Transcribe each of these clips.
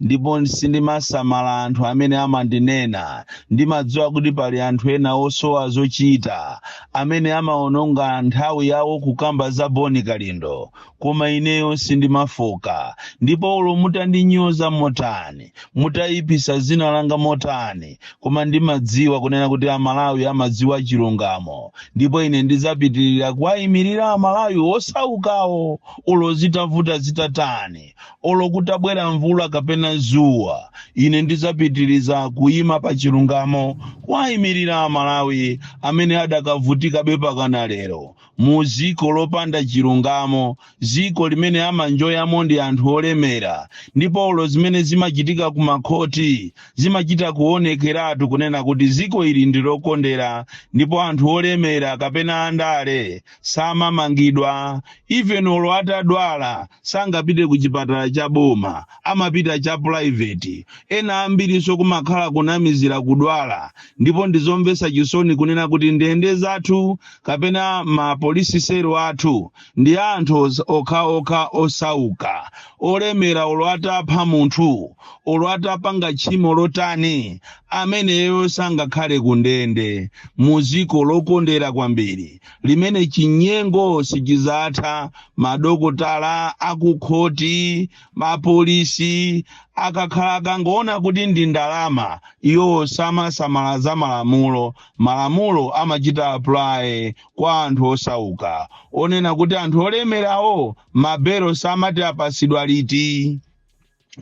Ndipo sindimasamala anthu amene amandinena. Ndimadziwa kuti pali anthu ena osowa zochita amene amawononga nthawi yawo kukamba za Bon Kalindo. Koma ineyo sindimafooka. Ndipo olo mutandinyoza motani, mutaipisa dzina langa motani, koma ndimadziwa kunena kuti a Malawi amadziwa chilungamo. Ndipo ine ndidzapitilira kuwaimilira a Malawi osaukawo olo zitavuta zitatani. olo kutabwera mvula kapena zuwa ine ndizapitiriza kuyima pa chilungamo kuwayimirira Amalawi amene adakavutikabe pakana lero mu ziko lopanda chilungamo ziko limene amanjoyamo ndi anthu olemera ndipo olo zimene zimachitika ku makhoti zimachita kuonekeratu kunena kuti ziko ili ndi lokondera ndipo anthu olemera kapena andale samamangidwa even olo atadwala sangapite ku chipatala cha boma amapita cha private ena ambirinso kumakhala kunamizira kudwala ndipo ndizomvetsa chisoni kunena kuti ndende zathu kapena ma polisi selo athu ndi a anthu okhaokha osauka olemera olo atapha munthu olo atapanga tchimo lotani ameneyo sangakhale ku ndende mu dziko lokondera kwambiri limene chinyengo sichizatha madokotala akukhoti mapolisi akakhala akangoona kuti ndi ndalama iwo samasamala za malamulo malamulo amachita apply kwa anthu osauka onena kuti anthu olemerawo mabelo samati apasidwa liti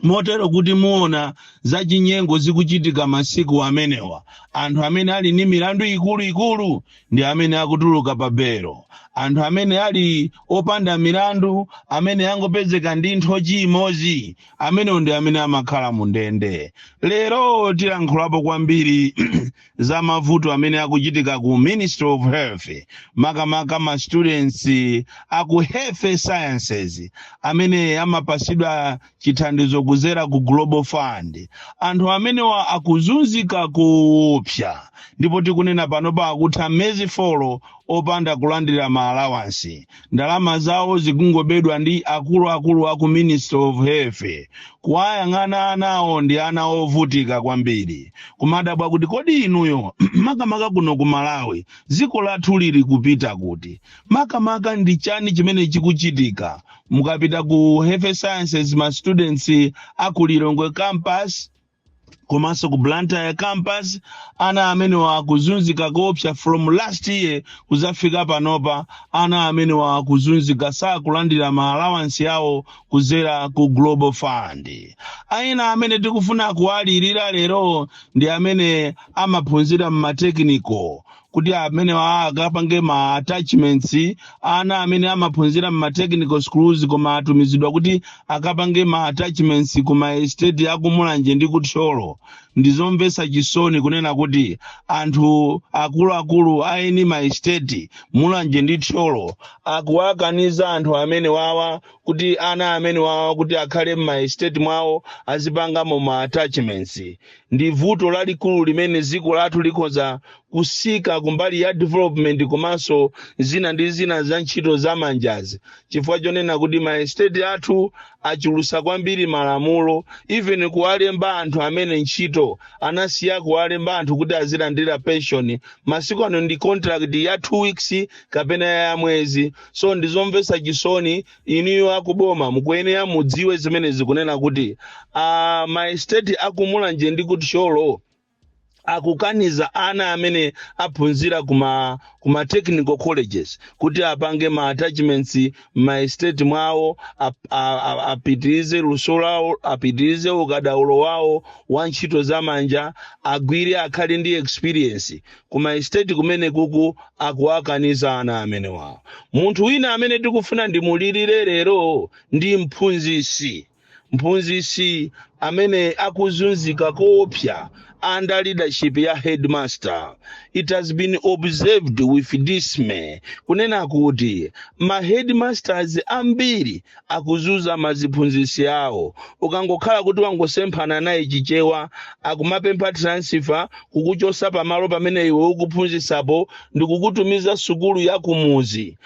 motero kuti muona zachinyengo zikuchitika masiku amenewa anthu amene ali ndi milandu ikuluikulu ndi amene akutuluka pa belo anthu amene ali opanda milandu amene angopezeka ndi nthochi imodzi amenewa ndi amene amakhala mu ndende lero tilankhulapo kwambiri za mavuto amene akuchitika ku ministry of health makamaka ma students a ku health sciences amene amapasidwa chithandizo kuzera ku global fund anthu amenewa akuzunzika kuopsa ndipo tikunena panopa akutha mezi folo opanda kulandira ma allowance ndalama zawo zikungobedwa ndi akuluakulu aku ministry of health kuwayang'ana anawo ndi ana ovutika kwambiri kumadabwa kuti kodi inuyo makamaka kuno ku malawi dziko lathu lili kupita kuti makamaka ndi chani chimene chikuchitika mukapita ku health sciences ma students aku Lilongwe campus komanso ku blantyre campus ana amenewa akuzunzika koopsa from last year kuzafika panopa ana amenewa akuzunzika sakulandira ma allowance yawo kuzera ku global fund ana amene tikufuna kuwalirira lero ndi amene amaphunzira mmatekiniko kuti amenewa akapange ma attachments ana amene amaphunzira mma technical schools koma atumizidwa kuti akapange ma attachments ku ma estate akumulanje ndi kuthyolo ndizomvetsa chisoni kunena kuti anthu akuluakulu eni ma estate mulanje ndi thyolo akuwakaniza anthu amene wawa kuti ana amene wawa kuti akhale mma estate mwawo azipangamo ma attachments ndi vuto lalikulu limene dziko lathu likhoza kusika kumbali ya development komanso zina ndi zina za ntchito za manjazi chifukwa chonena kuti maesteti athu achulusa kwambiri malamulo even kuwalemba anthu amene ntchito anasiya kuwalemba anthu kuti azilandira pension masiku ano ndi contract ya two weeks kapena ya mwezi so ndizomvetsa chisoni inuyo akuboma mukuyenera mudziwe zimenezi kunena kuti uh, maesteti akumulanje ndi kuthyolo akukaniza ana amene aphunzira kuma kuma technical colleges kuti apange ma attachments ma estate mwawo ap- a- a- apitirize luso lawo apitirize ukadaulo wawo wa ntchito za manja agwire akhale ndi experience ku maestate kumene kuku akuwakaniza ana amenewa munthu wina amene ndikufuna ndimulirire lero ndi mphunzisi mphunzisi amene akuzunzika koopsa under leadership ya headmaster it has been observed with dismay kunena kuti ma headmasters ambiri akuzunza maziphunzisi awo ukangokhala kuti wangosemphana naye chichewa akumapempha transfer kukuchosa pamalo pamene iwe ukuphunzisapo ndikukutumiza sukulu ya kumuzi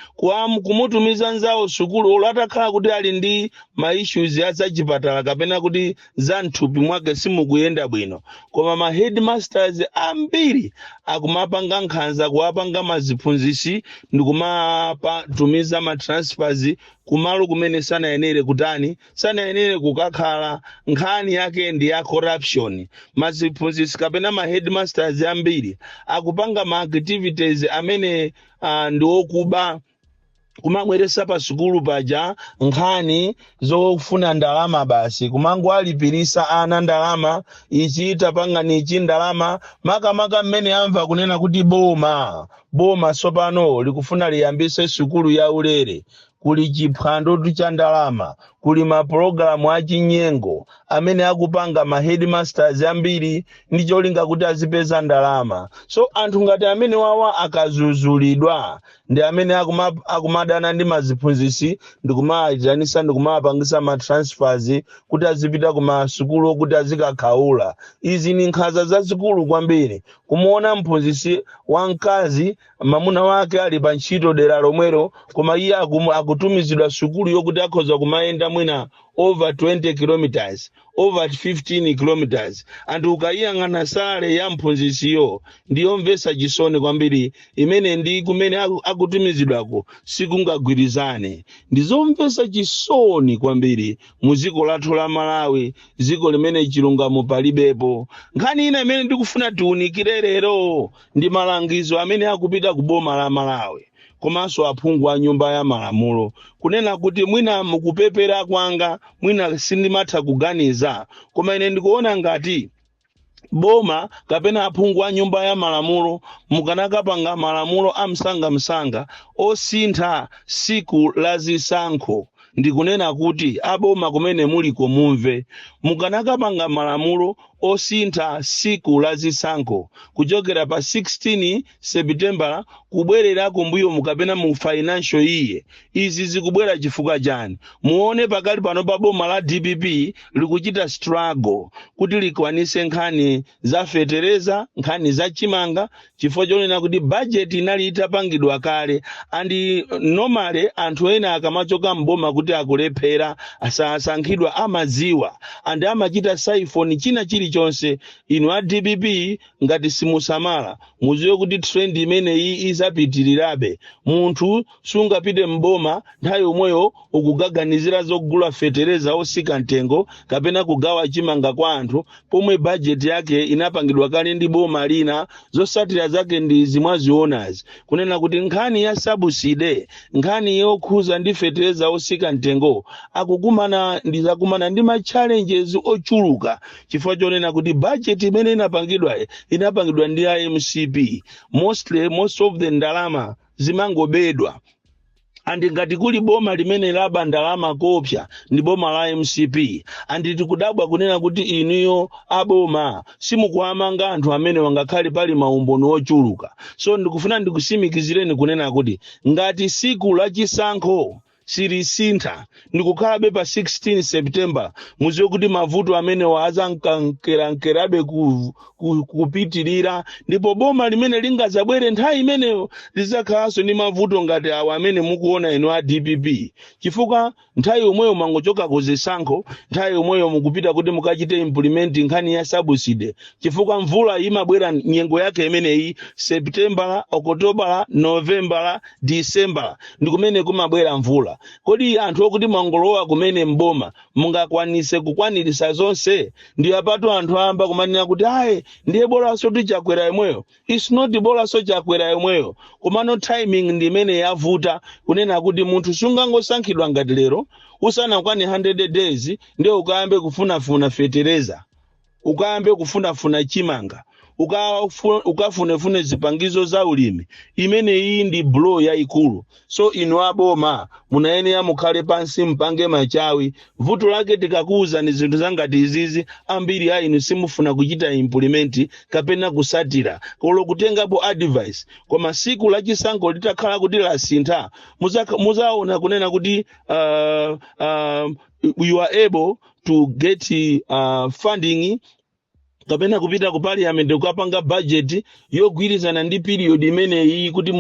kumutumiza nzawo sukulu olo atakhala kuti ali ndi ma issues a zachipatala kapena kuti za mthupi mwake simukuyenda bwino koma ma headmasters ambiri akumapanga nkhanza kuwapanga maziphunzisi ndikumawatumiza ma transfers kumalo kumene sanayenere kutani sanayenere kukakhala nkhani yake ndi ya corruption maziphunzisi kapena ma headmasters ambiri akupanga ma activities amene uh, ndi okuba kumabweresa pa sukulu paja nkhani zofuna ndalama basi kumangowalipirisa ana ndalama ichi tapangani ichi ndalama makamaka mmene amva kunena kuti boma Boma tsopano likufuna liyambitse sukulu yaulere, kuli chiphwandotu cha ndalama, kuli mapulogalamu achinyengo amene akupanga ma headmasters ambiri ndi cholinga kuti azipeza ndalama. So anthu ngati amenewawa akazuzulidwa ndi amene akumadana ndi maziphunzitsi ndikumawayitanisa ndikumawapangisa ma transfers kuti azipita ku masukulu kuti azikakhaula. Izi ndi nkhanza zazikulu kwambiri kumuona mphunzitsi wamkazi mamuna wake ali pa ntchito dera lomwelo koma iye akutumizidwa sukulu yokuti akhoza kumayenda mwina over 20 kilometers over 15 kilometers andi ukayiyang'ana salary ya mphunzitsiyo ndiyomvetsa chisoni kwambiri imene ndi kumene akutumizidwako sikungagwirizane ndizomvetsa chisoni kwambiri mu dziko lathu la malawi dziko limene chilungamo palibepo nkhani ina imene ndikufuna tiunikire lero ndi malangizo amene akupita ku boma la malawi komanso aphungu a nyumba ya malamulo kunena kuti mwina mukupepera kwanga mwina sindimatha kuganiza koma ine ndikuona ngati boma kapena aphungu a nyumba ya malamulo mukanakapanga malamulo amsangamsanga osintha siku la zisankho ndikunena kuti aboma kumene muliko mumve mukanakapanga malamulo osintha siku la zisankho kuchokera pa 16 sepitembala kubwerera kumbuyoku kapena mu financial year izi zikubwera chifukwa chani muone pakali pano pa boma la dpp likuchita struggle kuti likwanise nkhani za fetereza nkhani za chimanga chifukwa chonena kuti bajeti inali itapangidwa kale andi normally anthu ena akamachoka mboma kuti akulephera asasankhidwa amaziwa and amachita siphon china chilichonse inu a dpp ngati simusamala muziwe kuti trend imeneyi izapitirirabe munthu sungapite mboma nthawi yomweyo ukukaganizira zogula fetereza osika mtengo kapena kugawa chimanga kwa anthu pomwe bajeti yake inapangidwa kale ndi boma lina zosatira zake ndizi mwazionazi kunena kuti nkhani ya subsidy nkhani yokhuza ndi fetereza osika mtengo akukumana ndi zakumana ndi ma challenges ochuluka chifukwa chonena kuti budget imene inapangidwayi inapangidwa ndi a mcp mostly most of the ndalama zimangobedwa andi ngati kuli boma limene laba ndalama kopsa ndi boma la mcp andi tikudabwa kunena kuti inuyo aboma simukuwamanga anthu amenewa ngakhale pali maumboni ochuluka so ndikufuna ndikusimikizireni kunena kuti ngati siku la chisankho silisintha ndikukhalabe pa 16 september muziwe kuti mavuto amenewa azankankerankerabe ku, ku, kupitirira ndipo boma limene lingazabwere nthawi imeneyo lizakhalanso ndi mavuto ngati awa amene mukuona inu a dpp chifukwa nthawi yomweyo mwangochoka ku zisankho nthawi yomweyo mukupita kuti mukachite implement nkhani ya sabuside chifukwa mvula imabwera nyengo yake imeneyi septembala okotobala novembala disembala ndi kumene kumabwera mvula kodi anthu okuti mwangolowa kumene mboma mungakwanise kukwanirisa zonse ndiye apatu anthu ayamba kumanena kuti ayi ndiye bolanso chakwera yemweyo its not bolanso chakwera yemweyo komano timing ndi imene yavuta kunena kuti munthu sungangosankhidwa ngati lero usanakwane 100 days ndiye ukayambe kufunafuna fetereza ukayambe kufunafuna chimanga ukafu- ukafunefune zipangizo za ulimi imeneyi ndi blow yayikulu so inu aboma munayenera mukhale pansi mpange machawi vuto lake tikakuwuzani zinthu zangati izizi ambiri a inu simufuna kuchita implement kapena kusatira kolo kutengapo advice koma siku la chisankho litakhala kuti lasintha muzaka- muzaona kunena kuti uh, uh, you are able to get uh, funding kapena kupita ku parliament kukapanga budget yogwirizana ndi period imeneyi kuti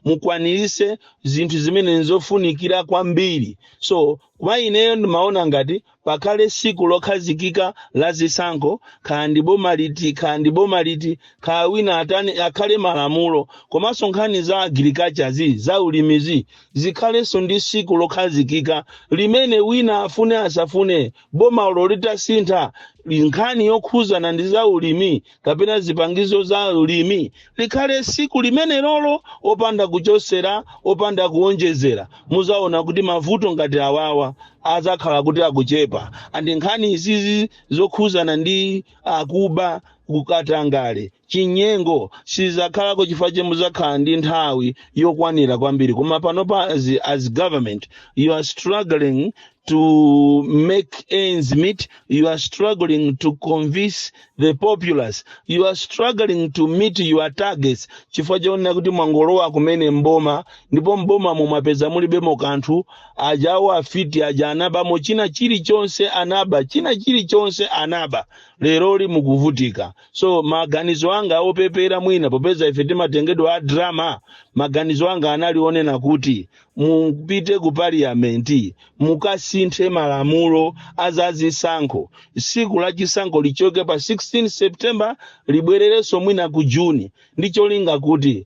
mukwanirise zinthu zimene nzofunikira kwambiri so kwa ineyo ndimaona ngati pakhale siku lokhazikika la zisankho kaya ndi boma liti kaya ndi boma liti kaya wina atani akhale malamulo komanso nkhani za agriculture zi za ulimizi zikhalenso ndi siku lokhazikika limene wina afune asafune bomalo litasintha nkhani yokhuzana ndi za ulimi kapena zipangizo za ulimi likhale siku limene lolo opanda kuchosera opanda kuonjezera muzaona kuti mavuto ngati awawa azakhala kuti akuchepa andi nkhani izizi zokhuzana ndi akuba kukatangale chinyengo sizakhalako chifukwa che muzakhala ndi nthawi yokwanira kwambiri koma panopa as, as government you are struggling to make ends meet you are struggling to convince the populace you are struggling to meet your targets chifukwa chonena kuti mwangolowa kumene mboma ndipo mboma mwapeza mulibemo kanthu aja awo afiti aja anabamo china chilichonse anaba china chilichonse anaba leroli mukuvutika so maganizo anga opepera mwina popeza ife timatengedwa a drama maganizo anga anali onena kuti mupite ku parliamenti mukasinthe malamulo azazisankho siku la chisankho lichoke pa 16 september libwererenso mwina ku juni ndi cholinga kuti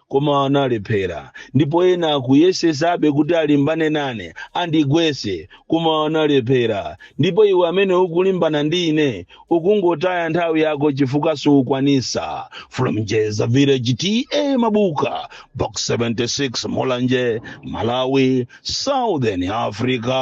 koma analephera ndipo ena akuyesesabe kuti alimbane nane andigwese koma analephera ndipo iwe amene ukulimbana ndi ine ukungotaya nthawi yako chifukwa siukwanisa from jeza village ta mabuka box 76 mulanje malawi southern africa